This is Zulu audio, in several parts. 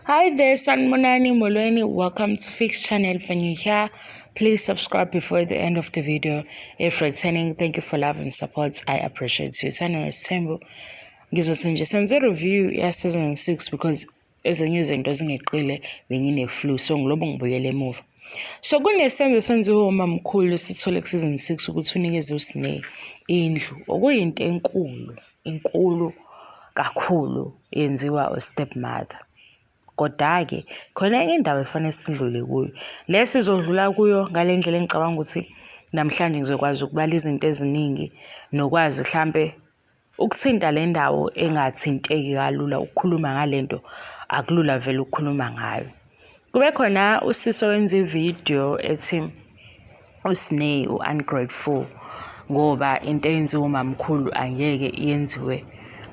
Hi there, Sanmonani Molweni. Welcome to Fix Channel for new here. Please subscribe before the end of the video. If returning, thank you for love and support. I appreciate you. Channel is Tembo. Ngizothi nje senze review ya season 6 because ezinye izinto zingeqile bengine flu so ngilobo ngibuyele emuva. So kunesenzo senziwe umamkhulu sithole ku season 6 ukuthi unikeze uSneh indlu okuyinto enkulu. inkulu kakhulu yenziwa u-step mother. Koda-ke khona enye indaba esifanele sidlule kuyo. Le sizodlula kuyo ngale ndlela engicabanga ukuthi namhlanje ngizokwazi ukubala izinto eziningi nokwazi mhlampe ukuthinta le ndawo engathinteki kalula ukukhuluma ngale nto akulula vele ukukhuluma ngayo. Kube khona usisi owenza ividiyo ethi uSney u-ungrateful ngoba into eyenziwa umamkhulu angeke yenziwe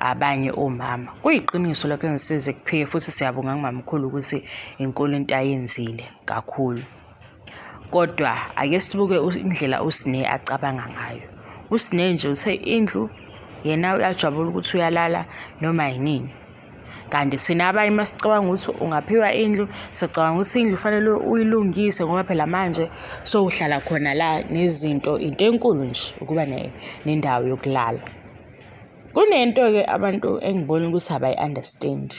abanye omama. Kuyiqiniso lokho engisize kuphike futhi siyabonga kumamkhulu ukuthi inkulu into ayenzile kakhulu. Kodwa ake sibuke indlela uSney acabanga ngayo. USney nje uthe indlu yena uyajabula ukuthi uyalala noma yinini. kanti thina abanye uma sicabanga ukuthi ungaphiwa indlu sicabanga ukuthi indlu fanele uyilungise ngoba phela manje sowuhlala khona la nezinto into enkulu nje ukuba nendawo yokulala kunento-ke abantu engibona ukuthi abayi-understand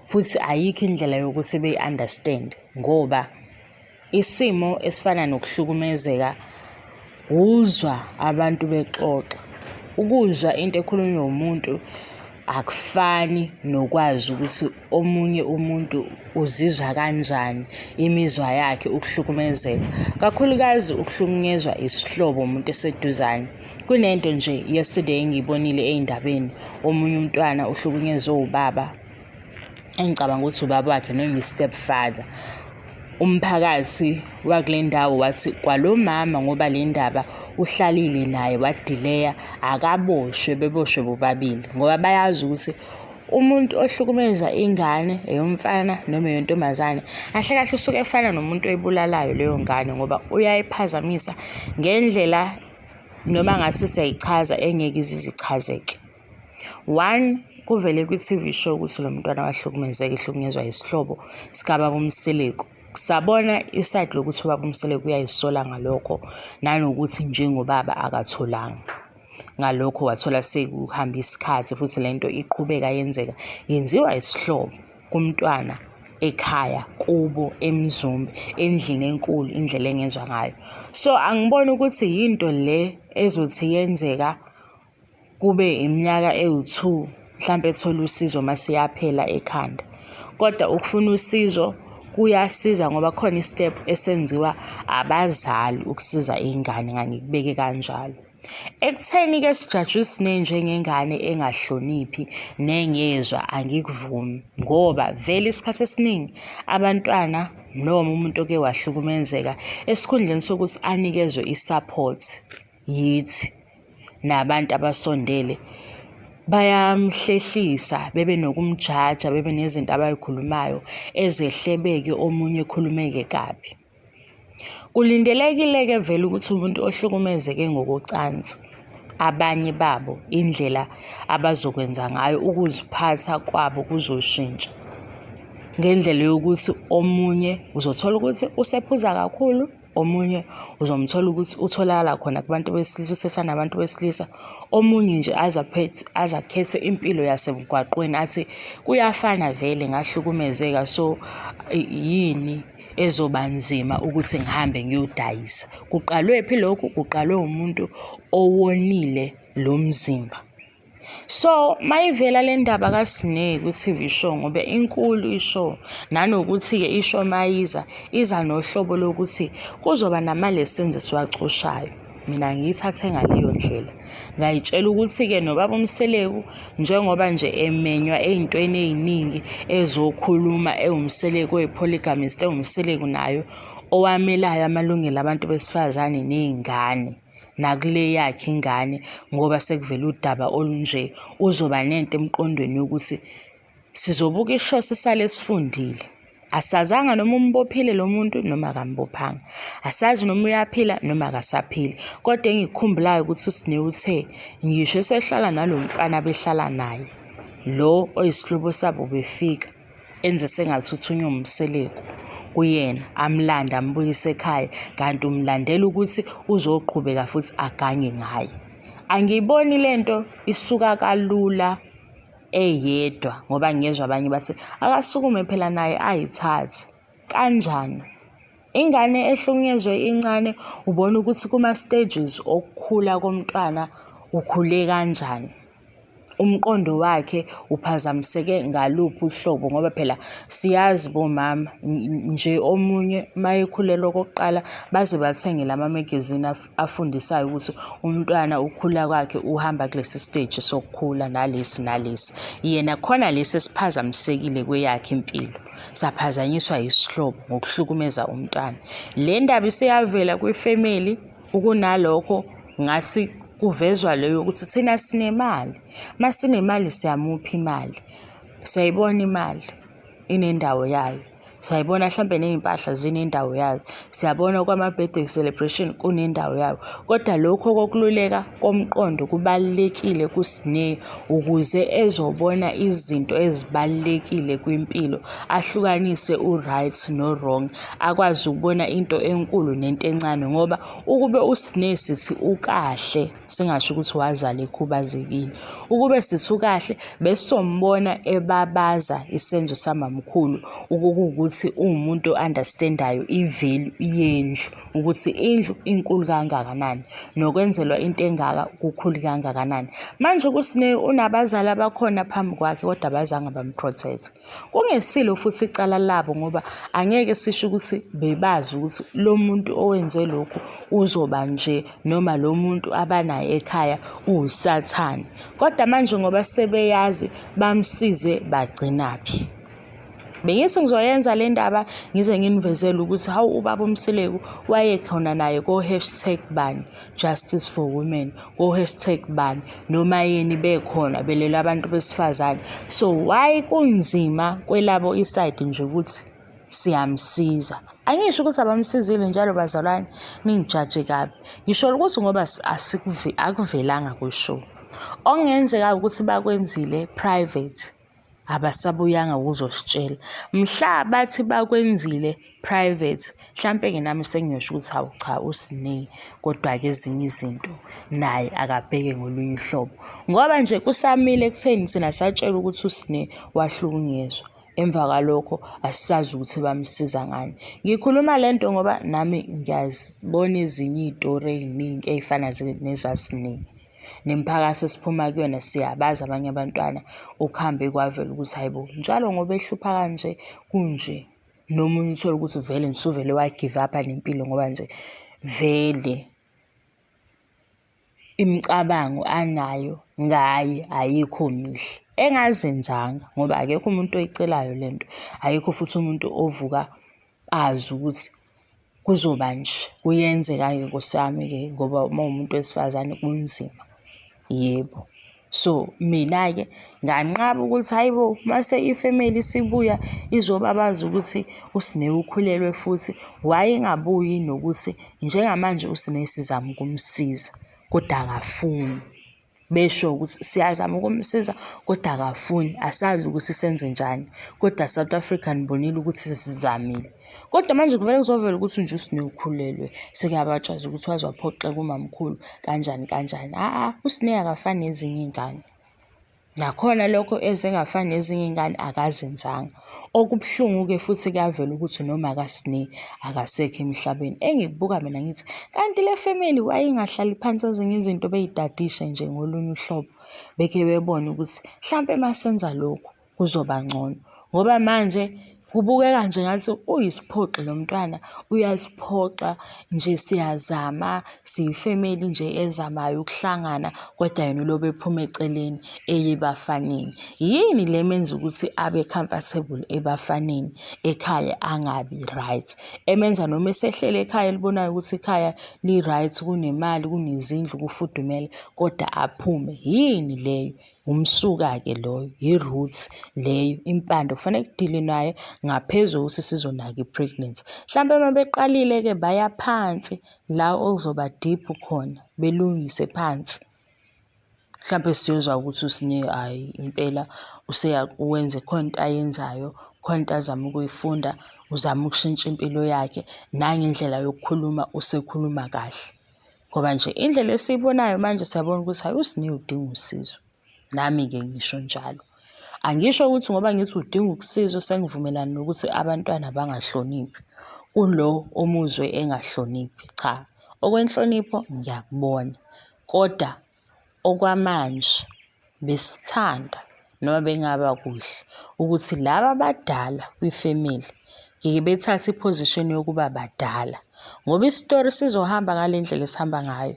futhi ayikho indlela yokuthi beyi-understand ngoba Isimo esifana nokuhlukumezeka wuzwa abantu bexoxa. Ukuzwa into ekhulunywa umuntu akufani nokwazi ukuthi omunye umuntu uzizwa kanjani, imizwa yakhe, ukuhlukumezeka. Kakhulukazi ukuhlukunyezwa isihlobo umuntu eseduzane. Kunento nje yesterday engiyibonile ey'ndabeni, omunye umntwana uhlukunyezwe ubaba engicabanga ukuthi ubaba wakhe noma i-step father umphakathi wakule ndawo wathi kwalo mama ngoba le ndaba uhlalile naye wadileya akaboshwe beboshwe bobabili ngoba bayazi ukuthi umuntu ohlukumeza ingane eyomfana noma eyontombazane kahle kahle usuke efana nomuntu oyibulalayo leyo ngane ngoba uyayiphazamisa ngendlela noma ngase siyayichaza engeke izizichazeke One kuvele kwi-TV show ukuthi lo mntwana wahlukumezeka ehlukunyezwa isihlobo sikababa uMseleku. Sabona isayidi lokuthi ubaba uMseleku uyayisola ngalokho nanokuthi njengobaba akatholanga. Ngalokho wathola sekuhambe isikhathi futhi le nto iqhubeka yenzeka yenziwa isihlobo kumntwana ekhaya kubo eMzumbe endlini enkulu indlela engezwa ngayo. So angiboni ukuthi yinto le ezothi yenzeka kube iminyaka ewu-two mhlampe ethola usizo uma seyaphela ekhanda. Kodwa ukufuna usizo kuyasiza ngoba kukhona i-step esenziwa abazali ukusiza ingane ngangikubeke kanjalo. Ekutheni-ke sijajwe isinengi njengengane engahloniphi nengezwa angikuvumi ngoba vele isikhathi esiningi abantwana noma umuntu oke wahlukumezeka esikhundleni sokuthi anikezwe i-support. yithi nabantu abasondele bayamhlehlisa bebe nokumjaja bebe nezinto abayikhulumayo ezehlebeke omunye ekhulumeke kabi kulindelekile-ke vele ukuthi umuntu ohlukumezeke ngokocansi abanye babo indlela abazokwenza ngayo ukuziphatha kwabo kuzoshintsha ngendlela yokuthi omunye uzothola ukuthi usephuza kakhulu omunye uzomthola ukuthi utholakala khona kubantu besilisa usesana abantu besilisa omunye nje aze aphethe aze akhethe impilo yasemgwaqweni athi kuyafana vele ngahlukumezeka so yini ezoba nzima ukuthi ngihambe ngiyodayisa kuqalwe phi lokhu kuqalwe umuntu owonile lo mzimba. So mayivela le ndaba kaSineki ku-TV show ngoba inkulu i-show nanokuthi-ke i-show mayiza iza nohlobo lokuthi kuzoba nama-lessons esiwacoshayo. Mina ngiyithathe ngaleyo ndlela. Ngayitshela ukuthi-ke nobaba uMseleku njengoba nje emenywa ey'ntweni ey'ningi ezokhuluma ewuMseleku oyi-polygamist ewuMseleku nayo owamelayo amalungelo abantu besifazane ney'ngane. nakule yakhe ingane ngoba sekuvela udaba olunje uzoba nento emqondweni yokuthi sizobuka isho sisale sifundile asazanga noma umbophile lo muntu noma akambophanga asazi noma uyaphila noma akasaphili kodwa engikukhumbulayo ukuthi usine uthe ngisho esehlala nalo mfana behlala naye lo oyisihlobo sabo befika enze sengasuthi unyomseleko kuyena amlande ambuyise ekhaya kanti umlandela ukuthi uzoqhubeka futhi aganye ngaye angiyiboni lento isuka kalula eyedwa ngoba ngiyezwa abanye bathi akasukume phela naye ayithathe kanjani ingane ehlukunyezwe incane ubona ukuthi kuma stages okukhula komntwana ukhule kanjani umqondo wakhe uphazamiseke ngaluphi uhlobo ngoba phela siyazi bomama nje omunye uma ekhulelwa okokuqala baze bathenge lama magazine afundisayo ukuthi umntwana ukhula kwakhe uhamba kulesi stage sokukhula nalesi nalesi. Yena khona lesi esiphazamisekile kweyakhe impilo saphazanyiswa yisihlobo ngokuhlukumeza umntwana. Le ndaba iseyavela kwifemeli Ukunalokho ngasi kuvezwa leyo ukuthi thina sinemali uma sinemali siyamupha imali siyayibona imali inendawo yayo siyayibona mhlampe ney'mpahla zinendawo yazo siyabona kwama-birthday celebration kunendawo yawo kodwa lokhu okokululeka komqondo kubalulekile kusineyo. ukuze ezobona izinto ezibalulekile kwimpilo ahlukanise u-right no-wrong akwazi ukubona into enkulu nento encane ngoba ukube usinesi sithi ukahle singasho ukuthi wazala ekhubazekile ukube sithi ukahle besombona ebabaza isenzo samamkhulu ukukuwukuthi uwumuntu o-understand-ayo i-value yendlu. ukuthi indlu inkulu kangakanani nokwenzelwa into engaka kukhulu kangakanani manje kusine unabazali abakhona phambi kwakhe kodwa abazange bamprotect kungesilo futhi icala labo ngoba angeke sisho ukuthi bebazi ukuthi lo muntu owenze lokhu uzoba nje noma lo muntu abanaye ekhaya uwusathane kodwa manje ngoba sebeyazi bamsize bagcinaphi Bengithi ngizoyenza le ndaba ngize nginivezele ukuthi hawu ubaba uMseleku wayekhona naye ko-hashtag bani justice for women ko-hashtag bani noma yini bekhona belela abantu besifazane so why kunzima kwelabo isayidi nje ukuthi siyamsiza angisho ukuthi abamsizile njalo bazalwane ningijaje kabi ngisho ukuthi ngoba akuvelanga kwishow okungenzeka ukuthi bakwenzile private abasabuyanga ukuzositshela mhla bathi bakwenzile private mhlampe-ke nami sengiyosho ukuthi hawu cha usineyi kodwa-ke ezinye izinto naye akabheke ngolunye uhlobo ngoba nje kusamile ekutheni thina satshelwa ukuthi usineyi wahlukunyezwa emva kwalokho asisazi ukuthi bamsiza ngani ngikhuluma le nto ngoba nami ngiyazibona ezinye iy'tori ey'ningi ey'fana nezasineyi nemiphakathi esiphuma kuyona siyabazi abanye abantwana okuhambe kwavela ukuthi hayi bo njalo ngoba ehlupha kanje kunje noma uthole ukuthi vele nisuvele wagive up nempilo ngoba nje vele imicabango anayo ngaye ayikho mihle engazenzanga ngoba akekho umuntu oyicelayo lento ayikho futhi umuntu ovuka bazi ukuthi kuzoba nje, kuyenzeka-ke Nkosi yami-ke ngoba uma uwumuntu wesifazane kunzima. Yebo. So, mina-ke nganqaba ukuthi hhayi bo, uma ifemeli isibuya izobabaza ukuthi uSne ukhulelwe futhi wayengabuyi nokuthi njengamanje uSne sizama ukumsiza, kodwa akafuni. besho ukuthi siyazama ukumsiza kodwa akafuni asazi ukuthi senze njani kodwa South Africa nibonile ukuthi sizamile kodwa manje kuvele kuzovela ukuthi nje uSnew ukhulelwe sekuyabatshaza ukuthi waze waphoxeka umamkhulu kanjani kanjani aa uSnew akafani nezinye iy'ngane nakhona lokho ezingafani nezinye iy'ngane akazenzanga. Okubuhlungu-ke futhi kuyavela ukuthi noma kaSne akasekho emhlabeni. Engikubuka mina ngithi kanti le family wayengahlali phansi ezinye izinto beyitadishe nje ngolunye uhlobo. Beke bebone ukuthi hlampe masenza lokhu kuzoba ngcono. Ngoba manje kubukeka nje ngathi uyisiphoxi lo mntwana, uyasiphoxa nje siyazama. Siyi-family nje ezamayo ukuhlangana kodwa yena ulobe ephuma eceleni eye ebafaneni. Yini le menza ukuthi abe comfortable ebafaneni ekhaya angabi right? Emenza noma esehlele ekhaya elibonayo ukuthi ikhaya li-right kunemali, kunezindlu, kufudumele kodwa aphume. Yini leyo? Umsuka-ke loyo, yi-root leyo impande kufanele kudilwe nayo ngaphezu kokuthi sizonaka i-pregnancy. Mhlawumbe uma beqalile-ke baya phansi la okuzoba deep khona, belungise phansi. Mhlawumbe siyozwa ukuthi uSne hhayi impela wenze khona into ayenzayo, khona into azama ukuyifunda, uzama ukushintsha impilo yakhe nangendlela yokukhuluma usekhuluma kahle. Ngoba nje indlela esiyibonayo manje siyabona ukuthi hayi uSne udinga usizo. Nami-ke ngisho njalo. Angisho ukuthi ngoba ngithi udinga ukusizwa sengivumelana nokuthi abantwana bangahloniphi kulo omuzwe engahloniphi, cha. Okwenhlonipho ngiyakubona koda. Okwamanje besithanda noma bengaba kuhle ukuthi laba abadala kwifemeli ngeke bethathe iphozishini yokuba badala ngoba isitori sizohamba ngale ndlela esihamba ngayo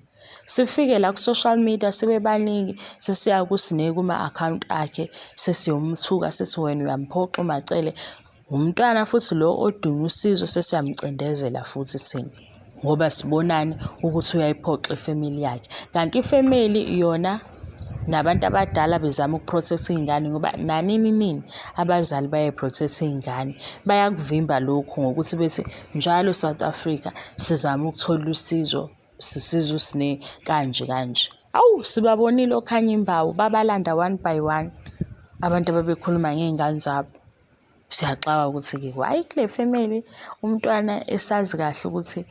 sifike la ku-social media sibe baningi sesiya kusine kuma-akhawunti akhe sesiyomthuka sithi wena uyamphoxa umacele Umntwana futhi lo odinga usizo sesiyamcindezela futhi thina ngoba sibonani ukuthi uyayiphoxa ifamily yakhe kanti ifamily yona nabantu abadala bezama ukuprotect iy'ngane ngoba nanini nini abazali bayayiprotect iy'ngane bayakuvimba lokhu ngokuthi bethi njalo south africa sizama ukuthola usizo sisiza usine kanje kanje awu sibabonile okhanya imbawu babalanda one by one abantu ababekhuluma ngey'ngane zabo Siyaxaka ukuthi-ke why kule family umntwana esazi kahle ukuthi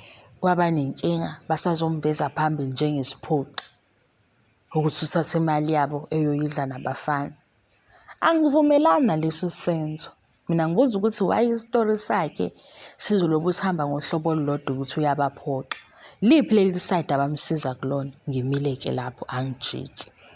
waba nenkinga basazombeza phambili njengesiphoqi ukuthi uthathe imali yabo eyoyidla nabafana. Angivumelani naleso senzo. Mina ngibuza ukuthi why isitori sakhe sizoloku sihamba ngohlobo olulodwa ukuthi uyabaphoxa. Liphi leli side abamsiza kulona? Ngimile-ke lapho angijiki.